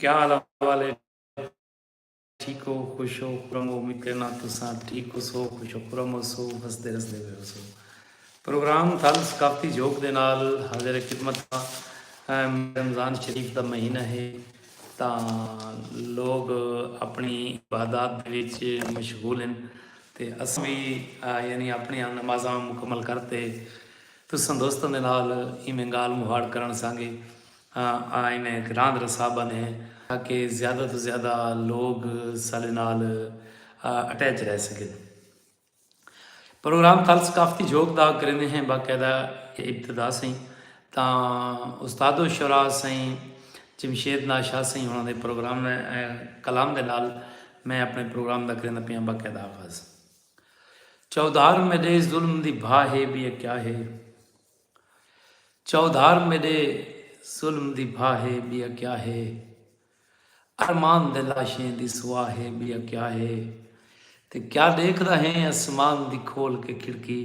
کیا حال احوال ہے ٹھیک ہو خوش ہو خرم ہو امید کرنا تساں ٹھیک ہو سو خوش ہو خرم ہو سو ہسدے رسدے ہوئے ہو سو پروگرام تھل ثقافتی جھوک دے نال حاضر خدمت رمضان شریف دا مہینہ ہے تا لوگ اپنی عبادات دے وچ مشغول ہیں تے اس بھی یعنی اپنی نمازاں مکمل کرتے تساں دوستاں دے نال ایویں گال مہاڑ کرن سانگے آں انہیں گھراں دا رسا بنے تاکہ زیادہ توں زیادہ لوگ ساڈے نال اٹیچ رہ سگن۔ پروگرام تال ثقافتی جھوک دا کریندے ہیں باقاعدہ ابتدا سئیں تاں استاد و شعراء سئیں جمشید ناز شاہ سئیں ہونا دے پروگرام کلام دے نال میں اپنے پروگرام دا کریندہ پیاں باقاعدہ آغاز۔ چودھار میڈے ظلم دی بھا ہے بیہ کیا ہے۔ چودھار میڈے ظلم دی بھا ہے بیا کیا ہے ارمان دے لاشیں دی سوا ہے بیا کیا ہے تے کیا ڈیکھدا ہیں اسمان دی کھول کے کھڑکی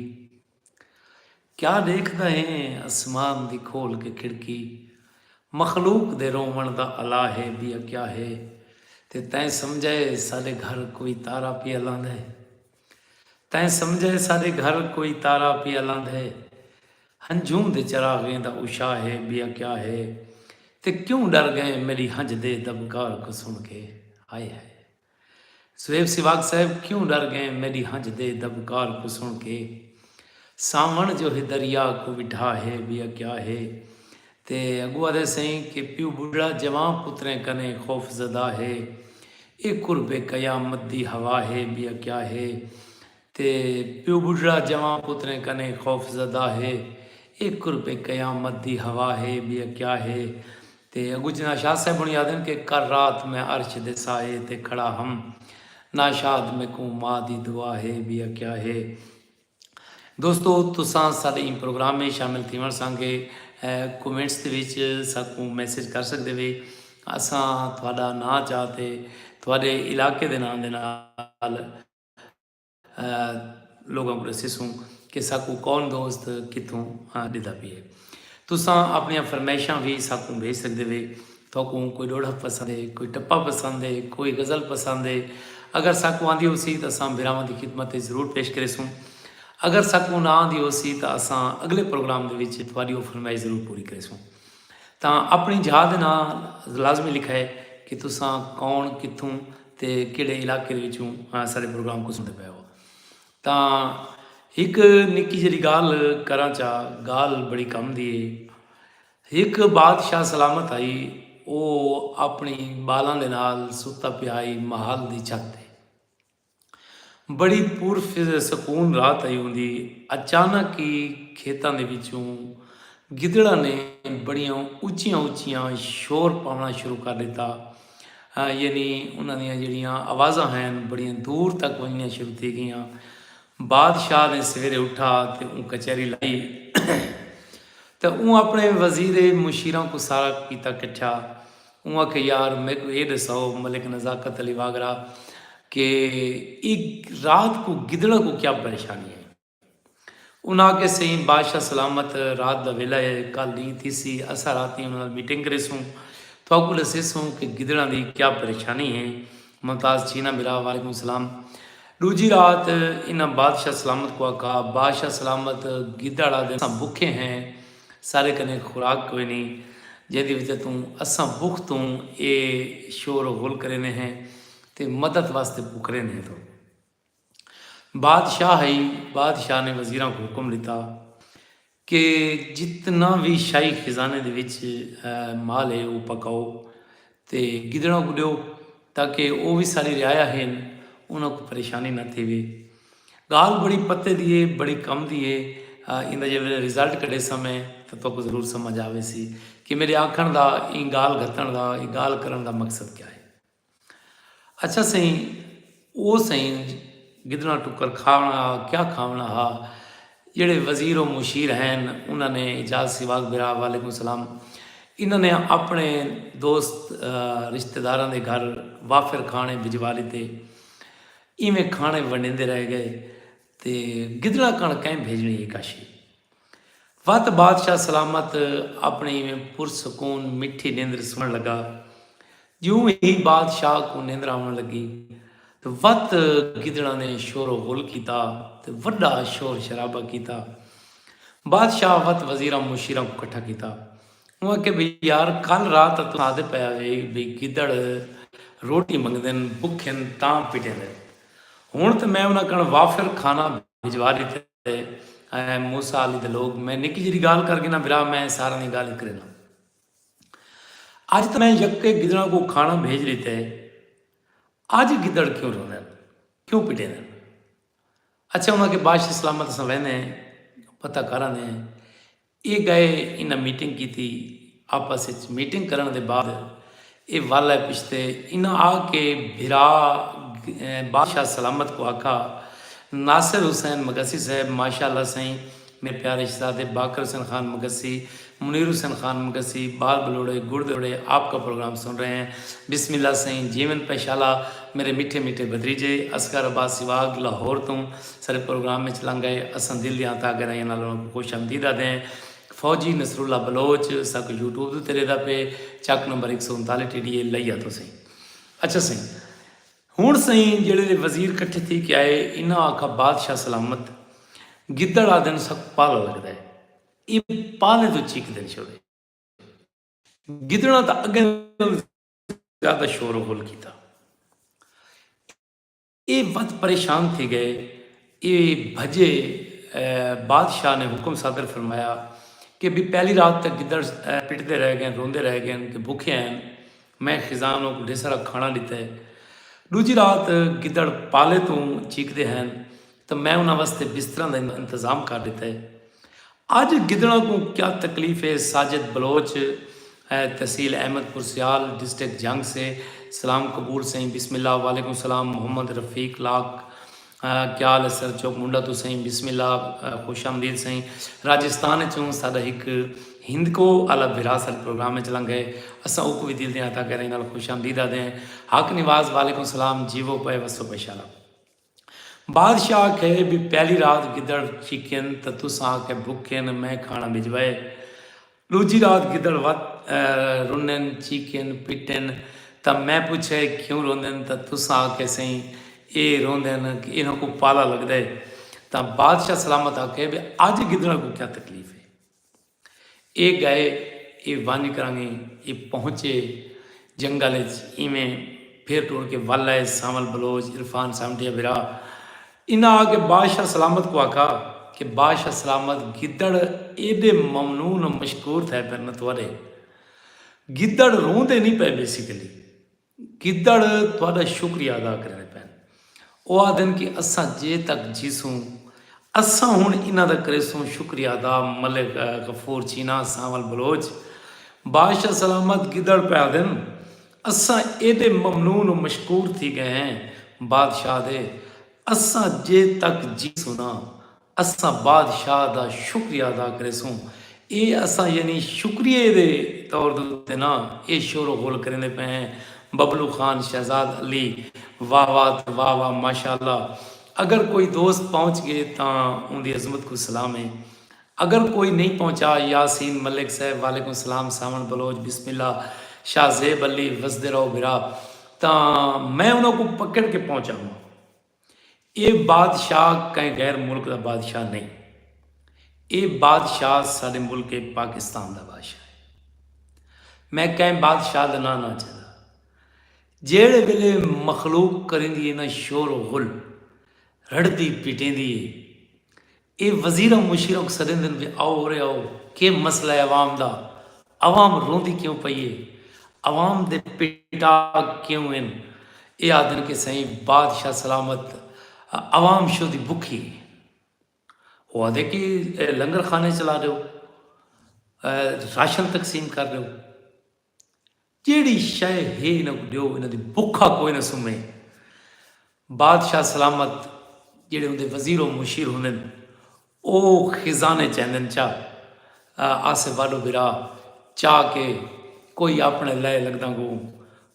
کیا ڈیکھدا ہیں اسمان دی کھول کے کھڑکی مخلوق دے روون دا الا ہے بیا کیا ہے تے تیں سمجھے ساڈے گھر کوئی تارا پیا لاندے۔ تیں سمجھے ساڈے گھر کوئی تارا پیا لاندھے۔ ہنجھوں دے چراغیں دا اوشا ہے بیا کیا ہے۔ تے کیوں ڈر گئے میڈی ہنج دے دبکار کوں سن کے۔ ہائے ہائے۔ زویب سیواگ صاحب کیوں ڈر گئے میڈی ہنج دے دبکار کوں سن کے۔ ساون جو ہے دریا کوں وڈھا ہے بیا کیا ہے۔ تے اگوں آدھے سئیں کہ پیو بڈھڑا جوان پتریں کنیں خوف زدہ ہے اے قرب قیامت دی ہوا ہے بیا کیا ہے تے پیو بڈھڑا جوان پتریں کنیں خوف زدہ ہے اے قرب قیامت دی ہوا ہے بیا کیا ہے تے اگوں جناح شاہ صاحب ہونی آدھن کہ کل رات میں عرش دے سائے تے کھڑا ہم ناشاد میکوں ماں دی دعا ہے بیا کیا ہے۔ دوستو تساں ساڈے ایں پروگرام میں شامل تھیوݨ سانگے کومنٹس دے وچ ساکوں میسج کر سگدے وے اساں تہاڈا ناں چا تے تہاڈے علاقے دے ناں دے نال لوگاں کوں ڈسیسوں کہ ساکوں کون دوست کتھوں ڈیدا پیے۔ تساں اپنیاں فرمائشاں وی ساکوں بھیج سگدے وے۔ تہاکوں کوئی ڈوڑھک پسند ہے، کوئی ٹپا پسند ہے، کوئی غزل پسند ہے۔ اگر ساکوں آندی ہوسی تاں اساں بھراواں دی خدمت اچ ضرور پیش کریسوں۔ اگر ساکوں نہ آندی ہوسی تاں اساں اگلے پروگرام دے وچ تہاڈی او فرمائش ضرور پوری کریسوں۔ تاں اپنڑی جھاہ دے نال لازمی لکھائے کہ تساں کون، کتھوں تے کیڑھے علاقے دے وچوں ساڈے پروگرام کوں سنڑدے پئے ہو۔ تاں ہک نکی جیہڑی گالھ کراں چا، گالھ بڑی کم دی ہے۔ ہک بادشاہ سلامت ہئی، او اپݨی ٻالاں دے نال ستا پیا ہئی محل دی چھت تے۔ بڑی پر سکون رات ہئی ہوندی، اچانک ای کھیتاں دے وچوں گدڑاں نے بڑیاں اچیاں اچیاں شور پاوݨا شروع کر ݙتا۔ یعنی انہاں دیاں جیڑھیاں آوازاں ہین بڑیاں دور تک ونجنیاں شروع تھی گیاں۔ بادشاہ نے سویرے اٹھا تے اوں کچہری لائی تے اوں اپنے وزیر مشیراں کوں سارا کیتا کٹھا۔ اوں آکھیا یار میکوں ایہ ڈساؤ ملک نزاکت علی واگرا کہ اے رات کوں گدڑاں کوں کیا پریشانی ہئی؟ انہاں آکھیا سئیں بادشاہ سلامت رات دا ویلہ اے کل ݙینہہ تھیسی اساں راتی انہاں نال میٹنگ کریسوں تہاکوں ݙسیسوں کہ گدڑاں دی کیا پریشانی اے ممتاز چینا بھرا وعلیکم سلام ݙوجھی رات انہاں بادشاہ سلامت کوں آکھا بادشاہ سلامت گدڑ آدھے اساں بکھے ہیں سارے کنے خوراک کوئنی جیندی وجہ توں اساں بکھ توں اے شور و غل کریندے ہیں تے مدد واسطے پکریندے ہیں تو۔ بادشاہ ہئی بادشاہ نے وزیراں کوں حکم ڈتا کہ جتنا وی شاہی خزانے دے وچ مال ہے وہ پکاؤ تے گدڑاں کو ڈیو تاکہ وہ بھی ساری رعایا ہیں انہاں کو پریشانی نہ تھے وے گال بڑی پتے دی ہے بڑی کم دی ہے ان دا جے ویلے رزلٹ کڈے سمے تو تو کو ضرور سمجھ آوے سی کہ میرے آکھن دا این گال گھتن دا این گال کرن دا مقصد کیا ہے اچھا سئیں او سئیں گدڑاں ٹکر کھاوݨا ہا کیا کھاوݨا ہا جیڑھے وزیر و مشیر ہین انہاں نے اجاز سیواگ برا وعلیکم السلام انہاں نے اپنے دوست رشتہ داراں دے گھر وافر کھانے بھجوا لیتے ایویں کھانے ونڈیندے رہ گئے تے گدڑاں کن کئیں بھیجنی ہی کاشی وت بادشاہ سلامت اپݨی ایویں پر سکون مٹھی نیندر سمن لگا جوں ہی بادشاہ کوں نیندر آون لگی تے وت گدڑاں نے شور و غل کیتا تے وڈا شور شرابہ کیتا بادشاہ وت وزیراں مشیراں کوں کٹھا کیتا اوں آکھیا بھئی یار کل رات تاں تساں آدھے پئے ہوئے بھئی گدڑ روٹی منگدن بکھن تاں پٹیندن ہن تے میں انہاں کن وافر کھانا بھجوا ڈتے تے اے موسی علی دے لوگ میں نکی جیڑی گال کر گنا برا میں سارا دی گال کرینا اج تے میں یک کے گدڑا کو کھانا بھیج لیتا ہے اج گدڑ کیوں روندے کیوں پٹے دے اچھا انہاں کے باش سلامت سوینے پتہ کرانے اے گئے انہاں میٹنگ کیتی آپس اچ میٹنگ کرنڑ دے بعد اے ول آئے پچھتے انہاں آ کے بھرا بادشاہ سلامت کو آکھا ناصر حسین مگسی صاحب ماشاء اللہ سئیں میرے پیارے شہزادے باقر حسین خان مگسی منیر حسین خان مگسی بال بلوڑے گڑ دے پکوڑے آپ کا پروگرام سن رہے ہیں بسم اللہ سئیں جیون پہ شالا میرے میٹھے میٹھے بھتریجے اصغر عباس سواگ لاہور توں سرے پروگرام اچ لنگ گئے، اساں دل دیاں تہہ گہرائیاں نال انہاں کوں خوش آمدید آہدے ہیں، فوجی نصر اللہ بلوچ ساکوں یوٹیوب دے اتے ریہدا پئے، چک نمبر ہک سو انتالیہہ ٹی ڈی اے لئی آتو سئیں۔ اچھا سئیں۔ ہنڑ سئیں جیڑھے دے وزیر کٹھے تھی کے آئے انہاں آکھا بادشاہ سلامت، گدڑ آہدن ساکوں پالا لگدا ہے، ایہ پالیں توں چیکدن چھوڑے، گدڑاں تاں اگے نال زیادہ شور و غل کیتا، اے ودھ پریشان تھی گئے۔ اے بھجے۔ بادشاہ نے حکم صادر فرمایا کہ بی پہلی رات تک گدڑ۔ پٹدے رہ گئن، روندے رہ گئن کہ بھکھے ہین۔ میں خزان اوں کوں ڈھیسارا کھانا ڈتے۔ ڈوجھی رات گدڑ پالے توں چیکدے ہین تاں میں انہاں واسطے بستراں دا انتظام کر ڈتے۔ اج گدڑاں کوں کیا تکلیف اے ساجد بلوچ تحصیل احمد پور سیال ڈسٹک جھنگ سے سلام قبول سئیں بسم اللہ وعلیکم السلام محمد رفیق لاکھ کیا حال ہے سر چوک منڈا توں سئیں بسم اللہ خوش آمدید سئیں راجستان اچوں ساڈا ہک ہندکو اعلی وراثت پروگرام اچ لنگھ ہے اساں اوکوں وی دل دیاں عطا کریں نال خوش آمدید آدھے ہیں حق نواز وعلیکم السلام جیوو پئے وسو پئے شالا بادشاہ آکھے بی پہلی رات گدڑ چیکین تاں تساں آکھے بھکین میں کھانا بھجوائے۔ ڈوجھی رات گدڑ وت رنین چیکین پٹین تاں میں پچھے کیوں روندین تاں تساں آکھے سئیں اے روندین انہاں کوں پالا لگدے تاں بادشاہ سلامت آکھے بی اج گدڑاں کوں کیا تکلیف اے۔ اے ڳئے اے ونڄ کرانگیں اے پہنچے جنگل اچ اینویں پھر ٹر کے ول آئے سانول بلوچ عرفان سامٹیا بھرا انہاں آ کے بادشاہ سلامت کوں آکھا کہ بادشاہ سلامت گدڑ ایݙے ممنون و مشکور تھئے پن تہاݙے گدڑ روندے نی پئے بیسیکلی گدڑ تہاݙا شکریہ ادا کریندے پئن۔ او آہدن کہ اساں جے تک جیسوں اساں ہݨ انہاں دا کریسوں شکریہ ادا ملک غفور چینا سانول بلوچ بادشاہ سلامت گدڑ پئے آہدن اساں ایݙے ممنون و مشکور تھی ڳئے ہیں بادشاہ دے اساں جے تک جیسوں نہ اساں بادشاہ دا شکریہ ادا کریسوں۔ اے اساں یعنی شکریہ دے طور دے اتے نہ اے شور و غل کریندے پئے ہیں۔ ببلو خان شہزاد علی واہ واہ تے واہ واہ ماشاء اللہ اگر کوئی دوست پہنچ گئے تاں اوندی عظمت کوں سلام ہے اگر کوئی نئیں پہنچا یاسین ملک صاحب وعلیکم السلام ساوݨ بلوچ بسم اللہ شاہ زیب علی وسدے رہو بھرا تاں میں انہاں کوں پکڑ کے پہنچاواں۔ اے بادشاہ کہیں غیر ملک دا بادشاہ نئیں اے بادشاہ ساڈے ملک پاکستان دا بادشاہ ہے میں کہیں بادشاہ دا ناں نہ چدا جیڑھے ویلے مخلوق کریندی ہے نہ شور و غل رڑھدی پیٹیندی ہے اے وزیر ء مشیراں کوں سڈیندن وی آؤ اورے آؤ کے مسئلہ ہے عوام دا عوام روندی کیوں پئی اے عوام دے پیٹاگ کیوں ہن اے آہدن کے سئیں بادشاہ سلامت ء عوام شو دی بکھی اے او آہدے کے لنگر خانے چلا ڈیو ء راشن تقسیم کر ڈیو۔ جیڑھی شئے ہے انہاں کوں ڈیو، انہاں دی بکھا کوئی نہ سمے۔ بادشاہ سلامت جیڑھے اوندے وزیر و مشیر ہوندن او خزانے چیندن چا آسے واڈو بھرا چا کے کوئی اپنے لئے لگداں کوں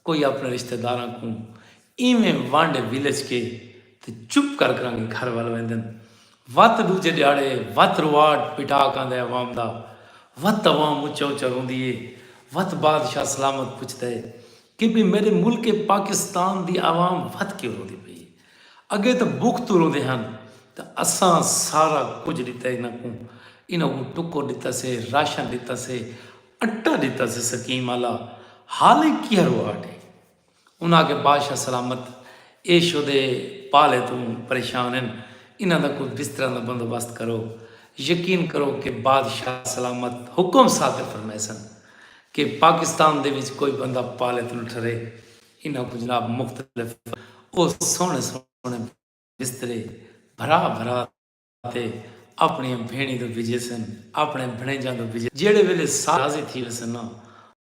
کوئی اپنے رشتہ داراں کوں ایویں وانڈے ولچ کے تے چپ کر کرانگے گھر ول ویندن۔ وت ڈوجھے ڈھیاڑے وت رواٹ پٹاک آندہ ہے عوام دا وت عوام اچا اچا روندی ہے وت بادشاہ سلامت پچھدا ہے کہ بھئی میڈے ملک پاکستان دی عوام وت کیوں روندی پئی ہے اگے تاں بکھ توں روندے ہن تاں اساں سارا کجھ ڈتا ہے انہاں کوں انہاں کوں ٹکر ڈتا سے راشن ڈتا سے اٹا ڈتا سے سکیم آلا حال ہی کیہا رواٹ ہے۔ انہاں آکھیا بادشاہ سلامت اے شدے پالے توں پریشان ہن انہاں دا کوئی بستراں دا بندوبست کرو۔ یقین کرو کہ بادشاہ سلامت حکم صادر فرمیسن کہ پاکستان دے وچ کوئی بندہ پالے توں نہ ٹھرے۔ انہاں کوں جناب مختلف او سوہݨے سوہݨے بسترے بھرا بھرا تے اپݨیاں بھیݨیں دو بھیجیسن اپݨے بھݨیجاں دو بھیجیسن جیڑھے ویلے سارے راضی تھی ویسن نا او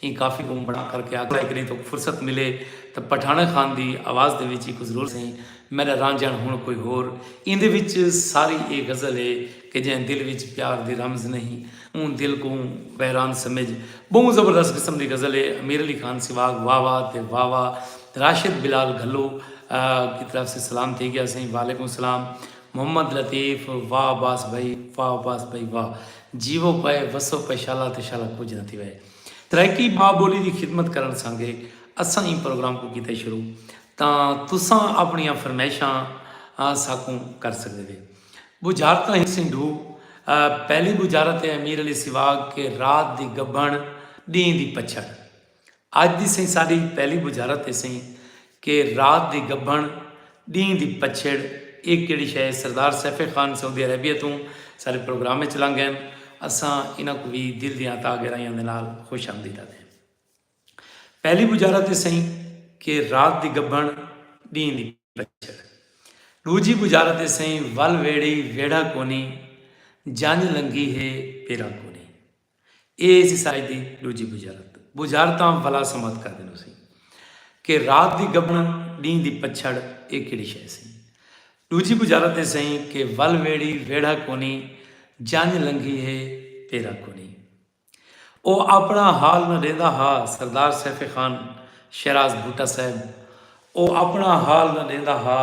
ایں کافی کوں بݨا کر کے آکھیا کݙہیں تہاکوں فرصت ملے تاں پٹھاݨہ خان دی آواز دے وچ ایکوں ضرور سئیں میݙا رانجھݨ ہݨ کوئی ہور ایندے وچ ساری ایہ غزل ہے کہ جئیں دل وچ پیار دی رمز نہیں اوں دل کوں ویران سمجھ ٻہوں زبردست قسم دی غزل ہے امیر علی خان سیواگ واہ واہ تے واہ واہ راشد بلال گھلو دی طرف سے سلام تھی ڳیا سئیں وعلیکم سلام محمد لطیف واہ عباس بھائی واہ عباس بھائی واہ جیوو پئے وسو پئے شالا تے شالا کجھ نہ تھیوئے ترائیکی ماء بولی دی خدمت کرن سانگے اساں ایں پروگرام کوں کیتے شروع تاں تساں اپنیاں فرمیشاں ساکوں کر سگدے وے بجھارتاں ہیسیں ڈھو پہلی بجھارت ہے امیر علی سیواگ کہ رات دی گبھن ڈینہہ دی پچھڑ اج دی سئیں ساڈی پہلی بجھارت اے سئیں کہ رات دی گبھنڑ ڈینہہ دی پچھیڑ اے کیڑی شے اے سردار سیف خان سعودی عربیہ توں ساڈے پروگرام اچ لنگ گئن اساں انہاں کوں وی دل دیاں عطا گہرائیاں دے نال خوش آمدید آکھدے ہیں پہلی بجھارت اے سئیں کہ رات دی گبھنڑ ڈینہہ دی پچھیڑ ڈوجھی بجھارت اے سئیں ول ویڑھی ویڑھا کونی جنج لنگھی ہے پیرا کونی۔ اے سی سائز دی ڈوجھی بجارت بجارتاں ولا سمت کر دینوں سی کہ رات دی گبنہ ڈینہہ دی پچھڑ اے کیڑی شے سی۔ ڈوجھی بجارت اے سئی کہ ول ویڑھی ویڑھا کونی جنج لنگھی ہے پیرا کونی۔ او آپنڑا حال نہ ڈیندا ہا سردار سیف خان شیراز بھٹہ صاحب او آپنڑا حال نہ ڈیندا ہا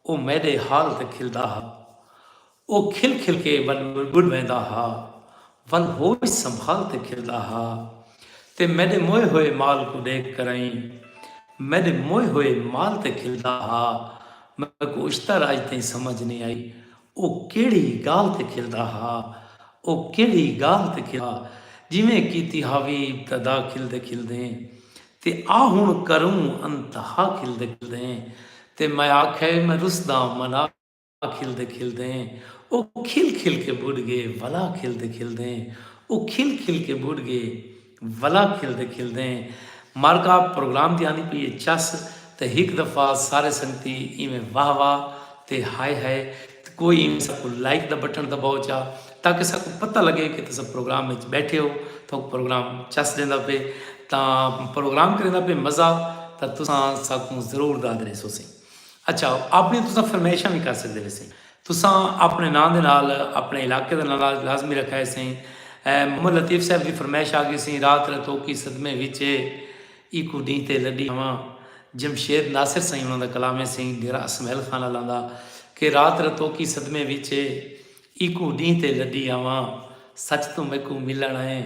او میڈے حال تے کھلدا ہا او کھل کھل کے ول ٻݙ ویندا ہا ول ہوش سنبھال تے کھلدا ہا تے میݙے موئے ہوئے مال کوں ݙیکھ کرائیں میݙے موئے ہوئے مال تے کھلدا ہا میکوں اشتر اڄ تئیں سمجھ نئیں آئی او کیڑھی ڳالھ تے کھلدا ہا او کیڑھی ڳالھ تے کھلدا ہا جیویں کیتی ہاوی ابتدا کھلدے کھلدیں تے آ ہݨ کروں انتہا کھلدے کھلدیں تے میں آکھئے میں رسداں منا کھلدے کھلدیں او کھل کھل کے بڈھ گے ولا کھلدے کھلدیں او کھل کھل کے بڈھ گے ولا کھلدے کھلدیں مارکا پروگرام دی آندی پئی اے چس تے ہک دفعہ سارے سنگتی ایویں واہ واہ تے ہائے ہائے تے کوئی ایویں ساکوں لائک دا بٹن دباؤ چا تاکہ ساکوں پتہ لگے کہ تساں پروگرام وچ بیٹھے ہو تاکوں پروگرام چس دیندا پے تاں پروگرام کریندا پے مزہ تاں تساں ساکوں ضرور داد ریسو سی۔ اچھا اپݨی تساں فرمائشاں وی کر سڳدے ویسے تساں اپݨے ناں دے نال اپݨے علاقے دا ناں لازمی رکھا ہیسے محمد لطیف صاحب دی فرمائش آ گیسی رات رتوکی صدمے وچ اے ایکوں ݙینہہ تے لݙی ہاواں جمشید ناصر سئیں انہاں دا کلام ہیسی ڈیرہ اسمعیل خان آلاں دا کہ رات رتوکی صدمے وچ اے ایکوں ݙینہہ تے لݙی ہاواں سچ توں میکوں ملݨ آئیں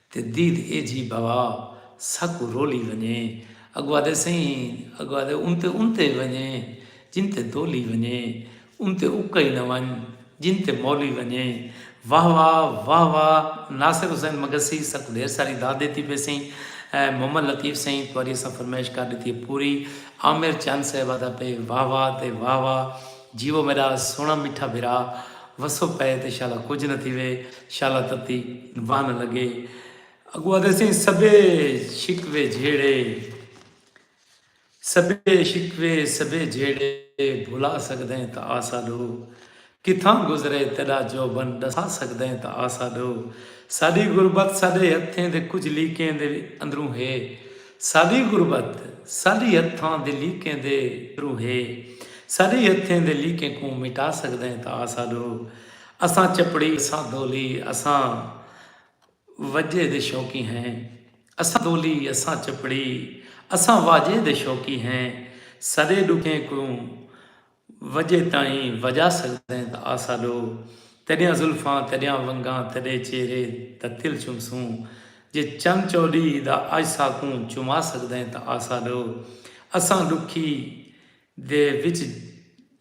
تے دید اے جھی بھوا ساکوں رولی ونجے اگو آدھے سئیں اگو آدھے انتے انتے ونجے جن تے دولی ونجے انتے اکئی نہ ونج جن تے مولی ونجے واہ واہ واہ واہ ناصر حسین مگسی ساکوں ڈھیر ساری داد دیتی پے سئیں محمد لطیف سئیں تواری اساں فرمائش کر ڈتی ہے پوری عامر چند صاحب آدھا پے واہ واہ تے واہ واہ جیوو میڈا سوہنڑا میٹھا بھرا وسو پئے تے شالا کجھ نہ تھیوے شالا تتی واہ نہ لگے اگو آدھے سیں سبے شکوے جھیڑے سبے شکوے سبے جھیڑے بھلا سکدیں تا آسا ڈو کتھاں گزرے تیڈا جوبن ڈسا سکدیں تا آسا ڈو ساڈی غربت ساڈے ہتھیں دے کجھ لیکیں دے اندروں ہے ساݙی غربت ساݙی ہتھاں دے لیکیں دے تھرو ہے۔ ساݙی ہتھیں دے لیکیں کوں مٹا سڳدئیں تاں آ ساݙو۔ اساں چپڑی، اساں دولی، اساں وجے دے شوقی ہیں۔ اساں دولی، اساں چپڑی، اساں واجے دے شوقی ہیں۔ ساݙے ݙکھیں کوں۔ وجہ تائیں وجا سگدیں تاں آسا ڈو تیڈیاں زلفاں تیڈیاں ونگاں تیڈے چہرے دا تل چمسوں جے چن چوڈی دا اج ساکوں چما سگدیں تاں آسا ڈو اساں ڈکھی دے وچ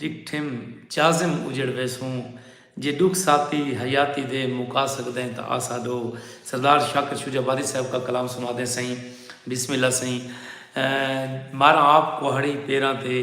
ڈٹھم چازم اجڑ ویسوں جے ڈکھ ساتی حیاتی دے مکا سگدیں تاں آسا ڈو سردار شاکر شجاع وارث صاحب کا کلام سنا دیں سئیں بسم اللہ سئیں ماراں آپ کوہاڑی پیراں تے۔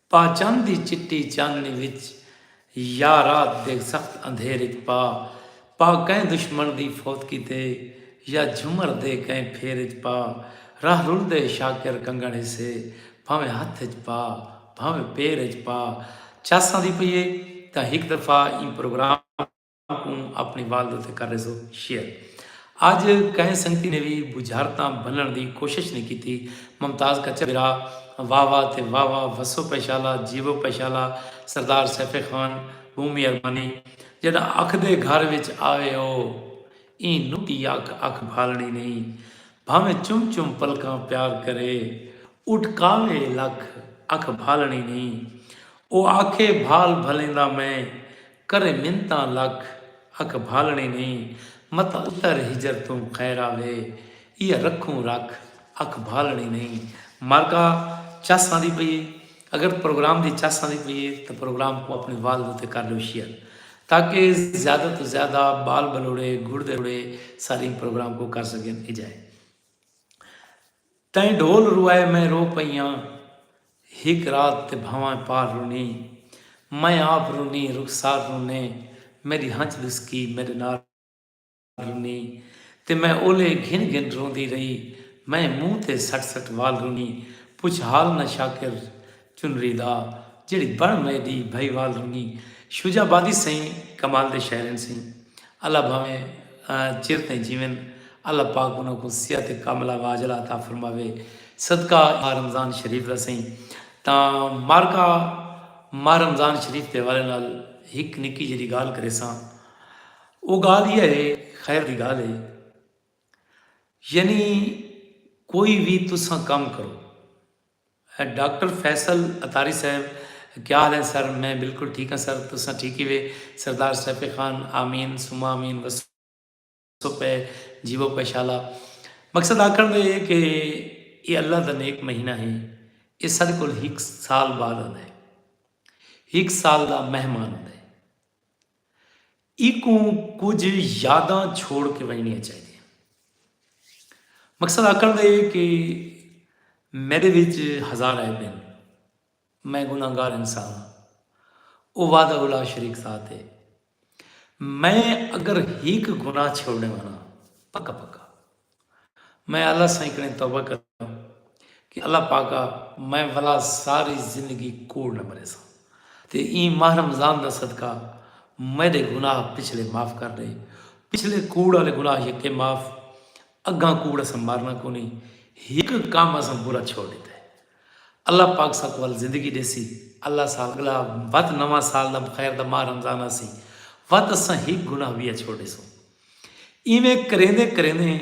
پاچند دی چٹی چاندنی وچ یا رات دے سخت اندھیر وچ پا پا کئیں دشمن دی فوت کیتے یا جھمر دے کئیں پھیر وچ پا راہ رلدے شاکر کنگن ہسے بھانویں ہتھ وچ پا بھانویں پیر وچ پا چاساں دی پئی اے تاں ہک دفعہ ایں پروگرام کوں اپݨی والد اتے کر ݙیسو شیئر۔ اڄ کہیں سنگتی نے وی بجھارتاں بھنݨ دی کوشش نی کیتی۔ ممتاز کچا بھرا واہ واہ تے واہ واہ وسو پئے شالا جیوو پئے شالا سردار سیف خان ٻہوں مہربانی جݙاں اکھ دے گھر وچ آوے او ایں نکی اکھ اکھ بھالݨی نئیں بھانویں چم چم پلکاں پیار کرے اٹکاوے لکھ اکھ بھالݨی نئیں او آکھے بھال بھلیندا میں کرے منتاں لکھ اکھ بھالݨیں نئیں متاں اتر ہجر توں خیر آوے ایہا رکھوں رکھ اکھ بھالݨیں نئیں مرکا چس آندی پئی اے اگر پروگرام دی چس آندی پئی اے تاں پروگرام کوں اپݨی والد اتے کر ݙیو شیئر تاکہ زیادہ توں زیادہ ٻال ٻلوڑے گڑدے روڑے ساریں پروگرام کوں کر سڳن اجائی۔ تئیں ڈھول روائے میں رو پئیاں ہک رات تے بھانویں پار رونی میں آپ رونی رخسار رونے میڈی ہنچ ڈسکی میڈے نال رونی تے میں اولے گھن گھن روندی رہی میں منہ تے سٹ سٹ وال رونی پچھ حال نہ شاکر چنری دا جیڑھی بن مئے دی بھئی وال رنگیں شجاع آبادی سئیں کمال دے شاعرن سئیں اللہ بھاویں چر تئیں جیون اللہ پاک انہاں کوں صحت کاملہ واجلہ عطا فرماوے صدقہ ماہ رمضان شریف دا سئیں تاں مارکا ماہ رمضان شریف دے حوالے نال ہک نکی جیڑی گال کریساں او گال یہ ہے خیر دی گال ہے یعنی کوئی بھی تساں کم کرو ڈاکٹر فیصل عطاری صاحب کیا حال ہیں سر میں بلکل ٹھیک ہاں سر تساں ٹھیک ہیوے سردار سیف خان آمین ثم آمین وسو پے جیوو پے شالا مقصد آکھن دے اے کہ اے اللہ دا نیک مہینہ ہے اے ساڈے کول ہک سال بعد آندے ہک سال دا مہمان آندے اینکوں کجھ یاداں چھوڑ کے ونجنیاں چاہیدیاں۔ مقصد آکھن دا اے کہ میڈے وچ ہزار عیب ہن، میں گناہ گار انسان ہاں، او وحدہ لا شریک ذات اے، میں اگر ہک گناہ چھوڑنڑ والا پکا پکا۔ میں اللہ سائیں کنیں توبہ کراں کہ اللہ پاکا میں ولا ساری زندگی کوڑ نہ مریساں تے ایں ماہ رمضان دا صدقہ میڈے گناہ پچھلے معاف کر ڈے پچھلے کوڑ آلے گناہ یکے معاف اگاں کوڑ اساں مارنا کونی ہک کام اساں برا چھوڑ ڈیتا ہے اللہ پاک ساکو ول زندگی ڈیسی اللہ سا اگلا وت نواں سال دا خیر دا ماہ رمضان آسی وت اساں ہک گناہ ویا چھوڑ ڈیسوں ایویں کریندے کریندے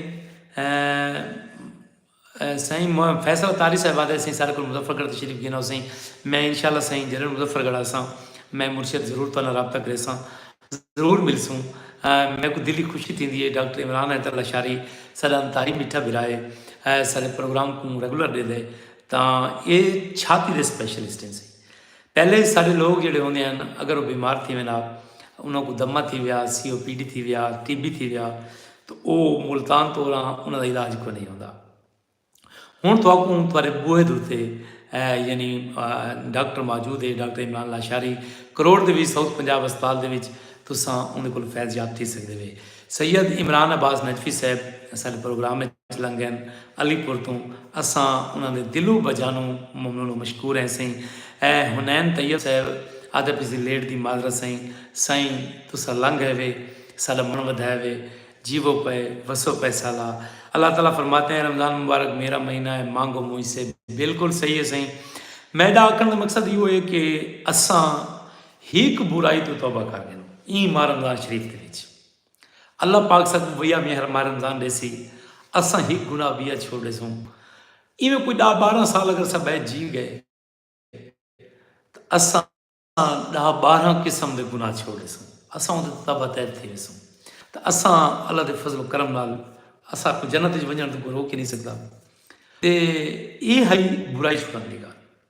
سائیں فیصل اتاری صاحب آدھے سائیں سارے کل مظفر گڑھ تشریف گھنو سائیں میں انشاءاللہ سائیں جلن مظفر گڑھ آساں میں مرشد ضرور تو رابطہ کرے ساں ضرور مل سوں میں کو دلی خوشی تھی دیئے ڈاکٹر عمران حیدر اللہ شاری سارے انتاری میٹھا برائے سارے پروگرام کو ریگولر دے دے تاں اے چھاتی دے سپیشلسٹ ہیں سائیں پہلے وی ساڈے لوک جیڑھے ہوندے ہن اگر او بیمار تھی وینا انہاں کوں دمہ تھی ویا، سی او پی ڈی تھی ویا، ٹی بی تھی ویا تو او ملتان توراں انہاں دا علاج کوئی نہیں ہوندا۔ ہن تہاکوں تہاڈے بوہے دے اتے یعنی ڈاکٹر موجود ہے ڈاکٹر عمران لاشاری کروڑ دے وچ ساؤتھ پنجاب اسپتال دے وچ تساں اوندے کولوں فیض یاب تھی سگدے وے۔ سید عمران عباس نجفی صاحب اساڈے پروگرام وچ۔ لنگن علی پور توں اساں انہاں دے دلو بجانوں ممنون و مشکور ہیں سئیں اے حنین طیب صاحب آدھا پیسی لیٹ دی معذرت سئیں سائیں تساں لنگ ہیوے ساڈا من ودھائے وے جیوو پئے وسو پئے سالا اللہ تعالی فرماتے ہیں رمضان مبارک میرا مہینہ ہے مانگو مجھ سے بالکل صحیح ہے سئیں میڈا آکھن دا مقصد ایہو ہے کہ اساں ہک برائی تو توبہ کر گھنوں ایں ماہ رمضان شریف دے وچ اللہ پاک ساکوں ویا میہر ماہ رمضان ڈیسی اساں ہک گناہ ویا چھوڑ ڈیسوں ایویں کوئی ڈاہ باراں سال اگر اساں بہہ جی گئے اساں ڈاہ باراں قسم دے گناہ چھوڑ ڈیسوں اساں اون تے توبہ تائب تھی ویسوں تے اساں اللہ دے فضل و کرم نال اساں کو جنت وچ ونجن تو کوئی روک ہی نہیں سکدا تے اے ہئی برائی چھڑانے گا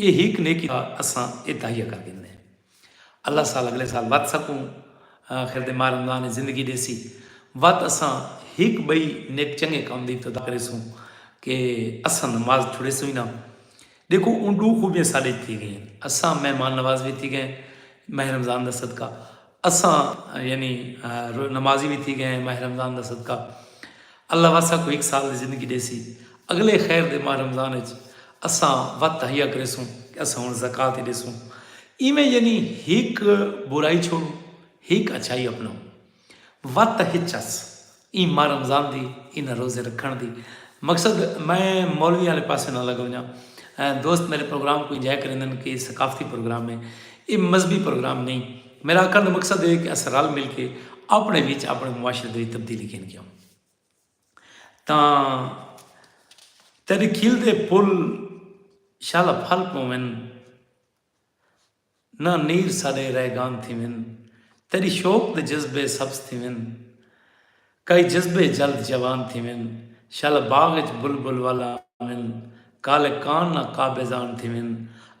ایہ ہک نیکی دا اساں ایہ تہیہ کر گھندے ہیں۔ اللہ سال اگلے سال وت سکوں آخر دے ماہ رمضان اچ زندگی ݙیسی۔ وت اساں ہک ٻئی نیک چنگے کم دی ابتدا کریسوں کہ اساں نماز چھڑیسوں ہی نہ۔ ݙیکھو اوں ݙو خوبیاں ساݙے اچ تھی ڳئین۔ اساں مہمان نواز وی تھی ڳئین ماہ رمضان دا صدقہ۔ اساں یعنی نمازی وی تھی گئے ہیں ماہ رمضان دا صدقہ اللہ واسا کو ہک سال دی زندگی ڈیسی اگلے خیر دے ماہ رمضان اچ اساں وت تہیا کریسوں کہ اساں ہن زکوۃ ہی ڈیسوں ایویں یعنی ہک برائی چھوڑوں ہک اچھائی اپناؤں وت تہچس ایں ماہ رمضان دی انہاں روزے رکھݨ دی مقصد میں مولویاں آلے پاسے نہ لڳ ونڄاں۔ دوست میݙے پروگرام کوں انجوائے کریندن کہ ایہ ثقافتی پروگرام ہے۔ ایہ مذہبی پروگرام نئیں۔ میݙا آکھݨ دا مقصد ہے کہ اساں رل مل کے آپݨے وچ آپݨے معاشرے دے وچ تبدیلی گھن کے آؤں۔ تاں تیݙے کھلدے پھل شالا پھل پوون۔ نہ نیر ساݙے ریگان تھیون تیݙی شوق دے جذبے سبز تھیون کئی جذبے جلد جوان تھیون شل باغ اچ بلبل ول آون کالے کان نہ قابضان تھیون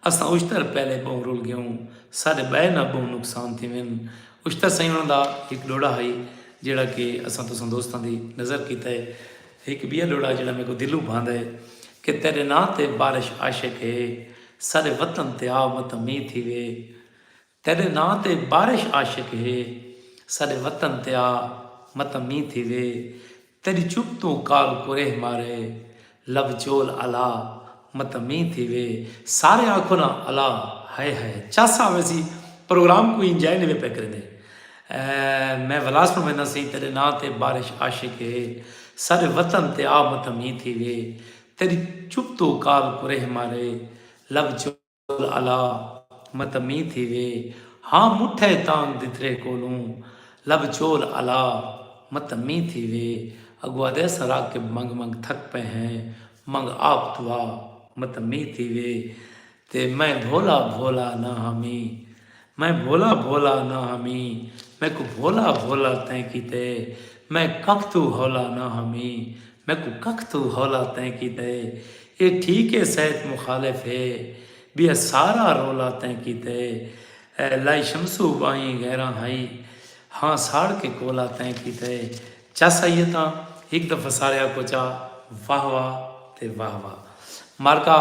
اساں اشتر پہلے ٻہوں رل ڳیوں ساݙے ٻئے نہ ٻہوں نقصان تھیون اشتر سئیں انہاں دا ہک ݙوہڑا ہئی جیڑھا کہ اساں تساں دوستاں دی نظر کیتا ہے۔ ہک ٻیا لوڑا جیڑھا میکوں دلوں بھاندا ہے کہ تیڈے ناں تے بارش عاشق ہے ساڈے وطن تے آ مت مینہ تھیوے تیڈے ناں تے بارش عاشق ہے ساڈے وطن تے آ مت مینہ تھیوے تیڈی چپ توں کال کوریہ مارے لب چول الا مت مینہ تھیوے سارے آکھو نا الا ہائے ہائے چس آویسی پروگرام کوئی انجوائے نہیں پے کریندے میں ولاس کوں وینداں سئیں تیڈے ناں تے بارش عاشق ہے ساڈے وطن تے آ متھا مینہ تھی وے تیڈی چپ تو کال کریہ مارے لب چول الا متھا مینہ تھی وے ہاں مٹھے تانگ دترے کولوں لب چول الا متھا مینہ تھی وے اگو آدھے اساں راکب منگ منگ تھک پئے ہیں منگ آپ دعا متھا مینہ تھی وے تے میں بھولا بھولا نہ ہمی۔ میں بھولا بھولا نہ ہمی۔ میکوں بھولا بھولا تیں کیتے۔ میں ککھ توں ہولا نہ ہمی۔ میکوں ککھ توں ہولا تیں کیتے۔ اے ٹھیک اے سیت مخالف اے۔ بیا سارا رولا تیں کیتے۔ لائی شمسو ٻاہیں غیراں ہئی۔ ہاں ساڑ کے کولا تیں کیتے۔ چس آئیے تاں ہک دفعہ سارے آکھو چا واہ واہ تے واہ واہ مارکا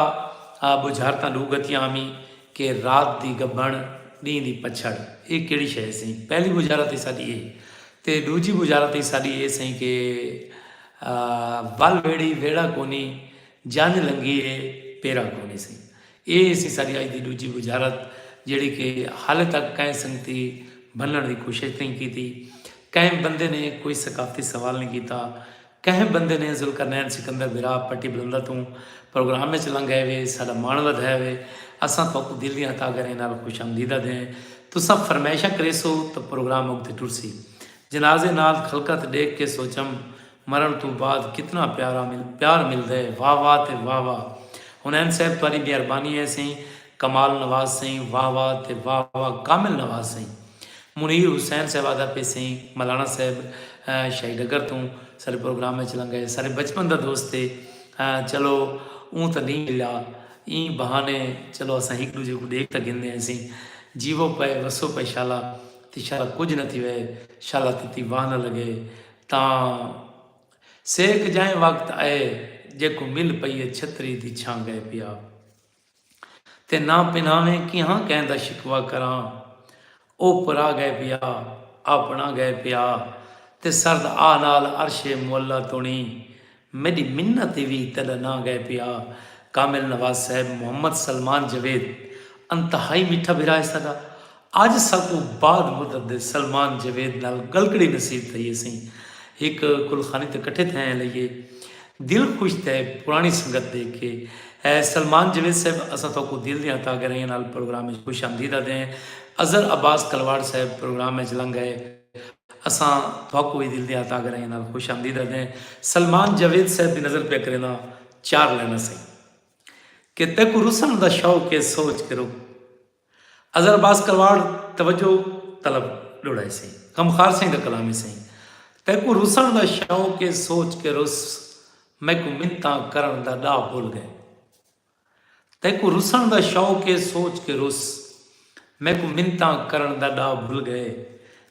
آ بجھر تاں ڈو گتیاں آمی کہ رات دی گبھن ڈینہہ دی پچھڑ اے کیڑی شے ہے سئیں پہلی بجھارت ای ساڈی اے تے ڈوجھی بجھارت ای ساڈی اے سئیں کہ ول ویڑھی ویڑھا کونی جنج لنگھی اے پیرا کونی سئیں اے سی ساڈی اج دی ڈوجھی وزارت جیڑھی کہ حالے تک کہیں سنگتی بننڑ دی کوشش نئیں کیتی، کہیں بندے نے کوئی ثقافتی سوال نئیں کیتا، کہیں بندے نے ذوالقرنین سکندر بھرا پٹی بلندہ توں پروگرام اچ لنگھ آئے وے، ساڈا مان ودھایا وے، اساں تہاکوں دل دیاں تہہ گھریں نال خوش آمدید آدھیں، تساں فرمائشاں کریسو تاں پروگرام اگتے ٹرسی۔ جنازے نال خلقت ڈیکھ کے سوچم۔ مرݨ توں بعد کتنا پیارا پیار ملدے واہ واہ تے واہ واہ حنین صاحب تہاݙی مہربانی اے سئیں کمال نواز سئیں واہ واہ تے واہ واہ کامل نواز سئیں منیر حسین صاحب آہدا پئے سئیں ملانا صاحب شاہی ڈگر توں ساݙے پروگرام اچ لنگا اے ساݙے بچپن دا دوست اے چلو اوں تاں نئیں ملیا ایں بہانے چلو اساں ہک ݙوجھے کوں ݙیکھ تاں گھندے ہیسیں جیوو پئے وسو پئے شالا تے شالا کجھ نہ تھیوے شالا تتی واہ نہ لگے تاں سیک جائیں وقت ائے جیکوں مل پئیے چھتری دی چھاں گئے پیا تے نہ پنہاویں کیہاں کہیں دا شکوہ کراں او پرا گئے پیا آپنڑا گئے پیا تے سرد آہ نال عرش معلی تنڑی میݙی منت تے وی تیݙا ناں ڳئے پیا کامل نواز صاحب محمد سلمان جاوید انتہائی میٹھا بھرا ہے ساݙا اڄ ساکوں بعد مدت دے سلمان جاوید نال ڳلکڑی نصیب تھئی ہے سئیں ہک گلخانی تے کٹھے تھئے ہیں لئیے دل خوش تھئے پراݨی سنگت ݙیکھ کے اے سلمان جاوید صاحب اساں تہاکوں دل دیاں تہاگہرائیاں نال پروگرام اچ خوش آمدید آدھدے ہیں اظہر عباس کلواڑ صاحب پروگرام اچ لنگھ ائے اساں تہاکوں وی دل دیاں تاگرائیاں نال خوش آمدید آدھدیں۔ سلمان جاوید صاحب دی نظر پیا کرینداں چار لائناں سئیں۔ کہ تیکوں رسݨ دا شوق اے سوچ کے رک اظہر عباس کلواڑ توجہ طلب ݙوڑائے سئیں۔ غمخوار سئیں دا کلام اے سئیں۔ تیکوں رسݨ دا شوق اے سوچ کے رس میکوں منتاں کرݨ دا ݙاہ بھل ڳئے۔ تیکوں رسݨ دا شوق اے سوچ کے رس میکوں منتاں کرݨ دا ݙا بھل ڳئے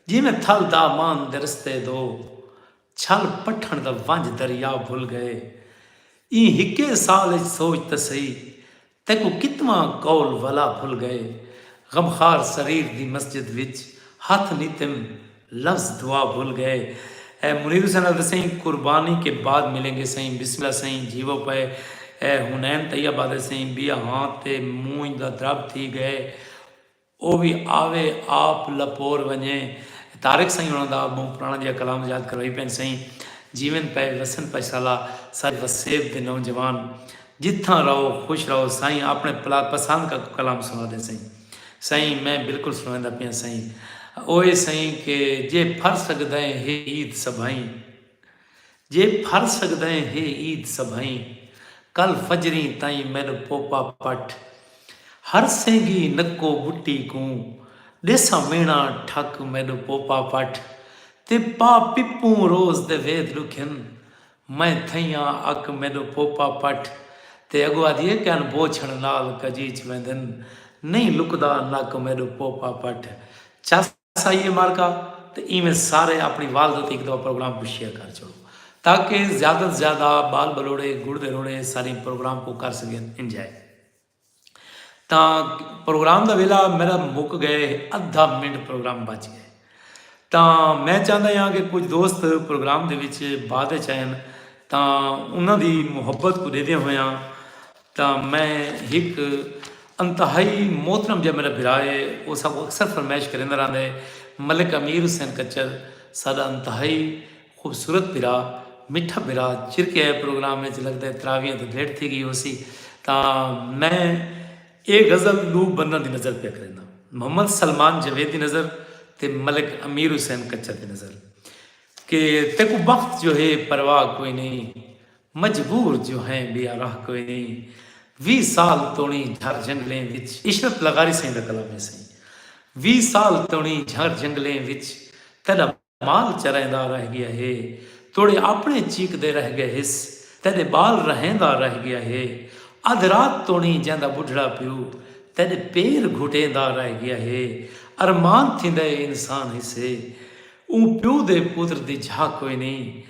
جیویں تھل دامان دے رستے دو چھل پٹھݨ دا ونج دریا بھل ڳئے ایں ہکے سال اچ سوچ تاں سہی تیکوں کتواں قول ولا بھل ڳئے غمخار سریر دی مسجد وچ ہتھ نیتم لفظ دعا بھل گئے۔ اے منیر حسین حضرت سئیں قربانی کے بعد ملیں گے سئیں بسم اللہ سئیں جیوو پئے اے حنین طیب آدھے سئیں بیا ہاں تے مونجھ دا درب تھی گئے او وی آوے آپ لپور ونجے طارق سئیں ہونا دا بہوں پرانا جیہا کلام یاد کروائی پئن سئیں جیون پئے وسن پشسالہ ساج وسیب دے نوجوان جتھاں رہو خوش رہو سائیں اپنے پلا پسند کا کوئی کلام سنا دے سئیں۔ سئیں میں بالکل سنڑیندا پیاں سئیں او اے سئیں کہ جے پھر سگدئیں ہے عید سبھئیں جے پھر سگدئیں ہے عید سبھئیں کل فجریں تئیں میڈ پوپا پٹ ہر سینگی نکو بٹی کوں ڈیساں مینا ٹھک میڈ پوپا پٹ تے پا پپوں روز دے وید ڈکھن میں تھئیاں اک میݙو پوپا پٹ تے اڳو آدھی اے کہن بوچھݨ نال کجیچ ویندن نئیں لکدا نک میݙو پوپا پٹ چس آئیے مارکا تے ایویں سارے اپݨی والدہ تے ہک دفعہ پروگرام کوں شیئر کر چھوڑو تاکہ زیادہ توں زیادہ ٻال ٻلوڑے گڑ دے روڑے ساریں پروگرام کوں کر سڳن انجوائے۔ تاں پروگرام دا ویلا میڈا مک گئے ادھا منٹ پروگرام بچ گئے تاں میں چاہندا ہاں کہ کچھ دوست پروگرام دے وچ بعد وچ آئن تاں انہاں دی محبت کو دیدے ہویاں تاں میں ہک انتہائی محترم جا میڈا بھرا ہے او ساکوں اکثر فرمائش کریندا رہندا ہے ملک امیر حسین کچھر ساڈا انتہائی خوبصورت بھرا مٹھا بھرا چرکے اے پروگرام اچ لگدے تراویاں تے بھیٹ تھی گئی ہوسی تاں میں اے غزل ڈو بنداں دی نظر پیا کرینداں محمد سلمان جاوید دی نظر تے ملک امیر حسین کچا دی نظر کہ تیکو بخت جو ہے پرواہ کوئی نہیں مجبور جو ہیں بے راہ کوئی نہیں وی سال تونی جھر جنگلیں وچ عشرت لغاری سائیں دا کلام ہے سائیں وی سال تونی جھر جنگلیں وچ تیڈا مال چریندا رہ گیا ہے توڑے اپنے چیکدے رہ گئے ہس تیڈے بال رہیندا رہ گیا ہے ادھ رات توڑیں جیندا بڈھڑا پیو تیڈے پیر گھٹیندا رہ گیا ہے ارمان تھیندا ہے انسان ہسے اوں پیو دے پتر دی جھاہ کوئی نئیں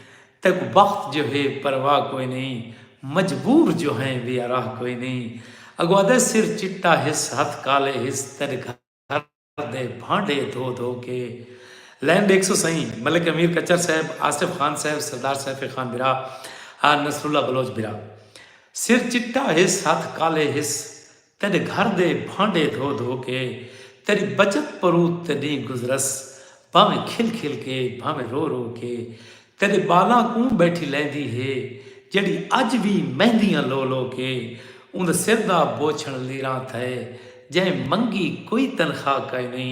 تیکوں بخت جو ہے پرواہ کوئی نئیں مجبور جو ہیں ویاراہ کوئی نئیں اگو ادھے سر چٹا ہس ہتھ کالے ہس تیڈے گھر دے بھانڈے دھو دھو کے لین ڈیکھسو سئیں ملک امیر کچر صاحب آصف خان صاحب سردار سیف خان برا آ نصر اللہ بلوچ برا سر چٹا ہس ہتھ کالے ہس تیڈے گھر دے بھانڈے دھو دھو کے تیڈی بچت پروت تے ڈینہہ گزرس بھاویں کھل کھل کے بھاویں رو رو کے تیݙے ٻالاں کوں ٻیٹھی لیندی ہے جیڑھی اڄ وی مہندیاں لو لو کے اوندے سر دا بوچھݨ لیراں تھئے جئیں منگی کوئی تنخواہ کائنی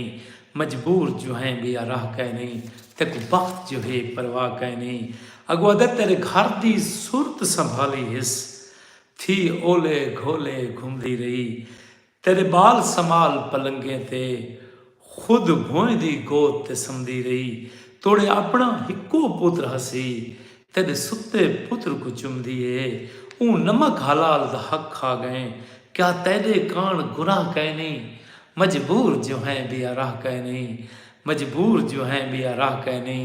مجبور جوہیں بیا راہ کائنی تیکوں بخت جوہے پرواہ کائنی اگو ادے تیݙے گھر دی صورت سنبھالی ہس تھی اولے گھولے گھمدی رہی تیݙے بال سمال پلنگیں تے خود بھوئیں دی گود تے سمدی رہی توڑے اپݨا ہکو پتر ہسی تیݙے ستے پتر کوں چمدی اے اوں نمک حلال دا حق کھا ڳئیں کیا تیݙے کاݨ گناہ کائنی مجبور جو ہیں ٻیا راہ کائنی مجبور جو ہیں ٻیا راہ کائنی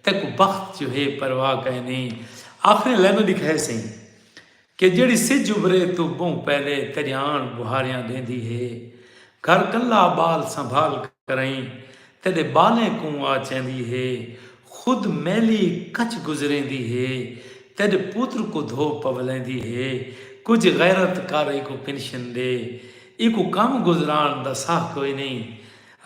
تیکوں بخت جو ہے پرواہ کائنی آخری لائناں ݙکھائیسئیں۔ کہ جیڑھی سجھ ابھرے توں بہوں پہلے تریاݨ بہاریاں ݙیندی ہے۔ گھر کلا ٻال سنبھال کرئیں تیݙے ٻالیں کوں آ چیندی ہے۔ خود میلی کچھ گزریندی ہے۔ تیݙ پوتر کوں دھو پولیندی ہے۔ کجھ غیرت کر ایکوں پنشن ݙے۔ ایکوں کم گزران دا ساہ کوئی نئیں۔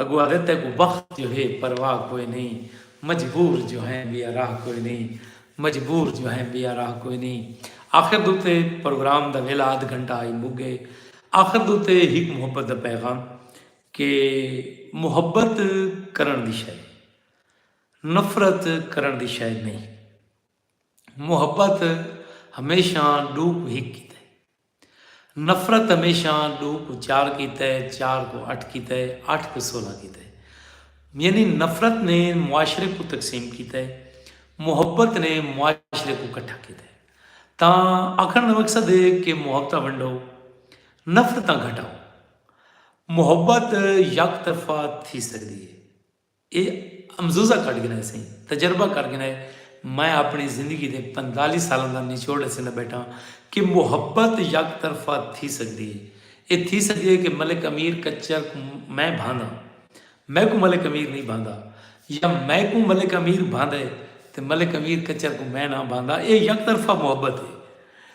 اگو آہدے تیکوں بخت جو ہے پرواہ کوئی نئیں۔ مجبور جو ہیں ٻیا راہ کوئی نئیں۔ مجبور جو ہیں بیا راہ کوئی نی آخر دوتے پروگرام دا ویلا ادھ گھنٹہ آئی مک گئے آخر دوتے ہک محبت دا پیغام کہ محبت کرن دی شے نفرت کرن دی شے نہیں محبت ہمیشہ ڈوک ہک کیتے نفرت ہمیشاں ݙو کوں چار کیتے، چار کوں اٹھ کیتے، اٹھ کوں سولہ کیتے۔ یعنی نفرت نے معاشرے کوں تقسیم کیتے، محبت نے معاشرے کوں کٹھا کیتے۔ تاں آکھݨ دا مقصد ہے کہ محبتاں ونڈو، نفرتاں گھٹاؤ۔ محبت یک طرفہ تھی سڳدی ہے۔ اے امزوزہ کڈھ گھنائے سئیں تجربہ کر گھنائے میں آپنڑی زندگی دے پنتالی سالاں دا نچوڑ ڈسیندا بیٹھاں کہ محبت یک طرفہ تھی سگدی اے اے تھی سگدی اے کہ ملک امیر کچر کوں میں بھاندا میکوں ملک امیر نئیں بھاندا یا میکوں ملک امیر بھاندے تے ملک امیر کچر کوں میں نہ بھاندا اے یک طرفہ محبت اے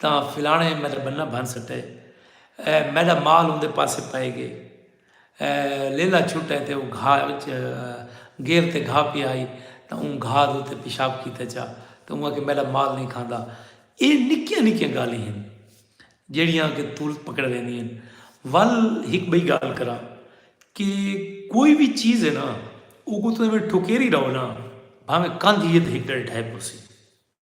تاں فلاݨے میݙا ٻنہ بھن سٹے میݙا مال اوندے پاسے پئے ڳئے لیلا چھٹے تے او گھا وچ گیر تے گھا پیا ہئی تاں اوں گھا دے اتے پیشاب کیتے چا تاں اوں آکھے میݙا مال نئیں کھاندا اے نکیاں نکیاں ڳالھیں ہن جیڑھیاں کہ تولت پکڑ ویندی ہن ول ہک ٻئی ڳالھ کراں کہ کوئی وی چیز ہے نا اوکوں توں ایویں ٹھکیری رہو نا بھاویں کندھ ہی ہے تے ہک ݙیڑھ ڈھہہ پوسی۔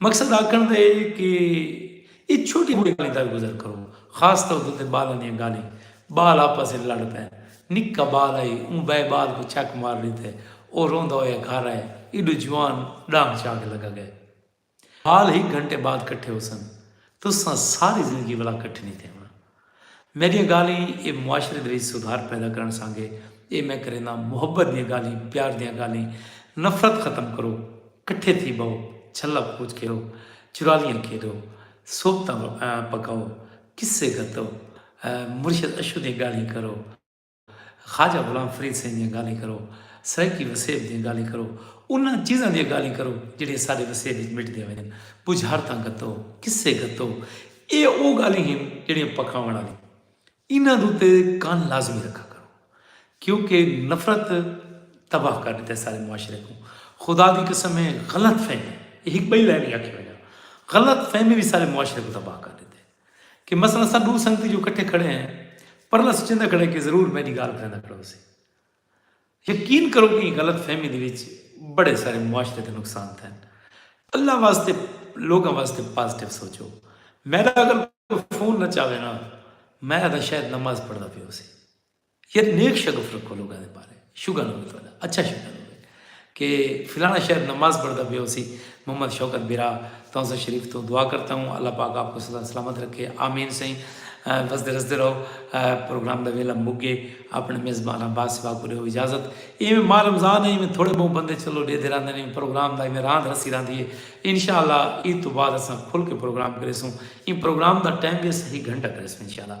مقصد آکھݨ دا اے کہ اے چھوٹی موٹی گالھیں در گزر کرو خاص طور تے اتے بالاں دیاں گالھیں بال آپس اچ لڑ پئن نکا بال آئی اوں بئے بال کوں چک مار ݙتے او روندا ہویا گھر آئے ایڈو جوان ݙانگ چا کے لگا گئے بال ہک گھنٹے بعد کٹھے ہوسن تساں ساری زندگی ولا کٹھے نی تھیوݨا۔ میڈیاں گالھیں اے معاشرے دے وچ سدھار پیدا کرن سانگے اے میں کرینداں محبت دیاں گالھیں پیار دیاں گالھیں نفرت ختم کرو کٹھے تھی بہو چھلا کھوج کھیرو چرالیاں کھیڈو صحبتاں پکاؤ قصے گھتو مرشد اشو دیاں گالھیں کرو۔ خواجہ غلام فرید سئیں دیاں گالھیں کرو، سرائیکی وسیب دیاں گالھیں کرو، انہاں چیزاں دیاں گالھیں کرو جیہڑیاں ساڈے وسیب وچ مٹدیاں ونڄن، بجھارتاں گھتو، قصے گھتو، ایہ او گالھیں ہن جیہڑیاں پکاوݨ آلیاں انہاں دے اتے کن لازمی رکھا کرو کیونکہ نفرت تباہ کر ݙتا ہے ساڈے معاشرے کوں، خدا دی قسم ہے غلط فہمی، ایہ ہک ٻئی لائن وی آکھی ونڄاں، غلط فہمی وی ساڈے معاشرے کوں تباہ کر ݙتا ہے۔ کہ مثلا اساں ڈو سنگتی جو کٹھے کھڑے ہیں پرلا سچیندا کھڑے کہ ضرور میڈی گال کریندا کھڑو سی یقین کرو کہ غلط فہمی دے وچ بڑے سارے معاشرے دے نقصان تھے اللہ واسطے لوگوں واسطے پازیٹیو سوچو میرا اگر فون نہ چاہے نا میں ادا شاید نماز پڑھدا پیو سی یار نیک شگف رکھو لوگاں دے بارے شگن ہوے تہاڈا اچھا شگن ہوے کہ فلانا شہر نماز پڑھدا پیا ہوسی محمد شوکت برا تونسا شریف تو دعا کرتا ہوں اللہ پاک آپ کو سدا سلامت رکھے آمین سائیں وسدے رسدے رہو پروگرام دا ویلا مک گئے اپنے میزبان عباس سوا کو دیو اجازت ایویں ماہ رمضان ہے ایویں تھوڑے بہت بندے چلو ڈے دے راندے نے پروگرام دا ایویں راند رسی راندی ہے انشاءاللہ عید تو بعد اساں کھل کے پروگرام کریسوں این پروگرام دا ٹائم بھی صحیح گھنٹہ کریسوں انشاءاللہ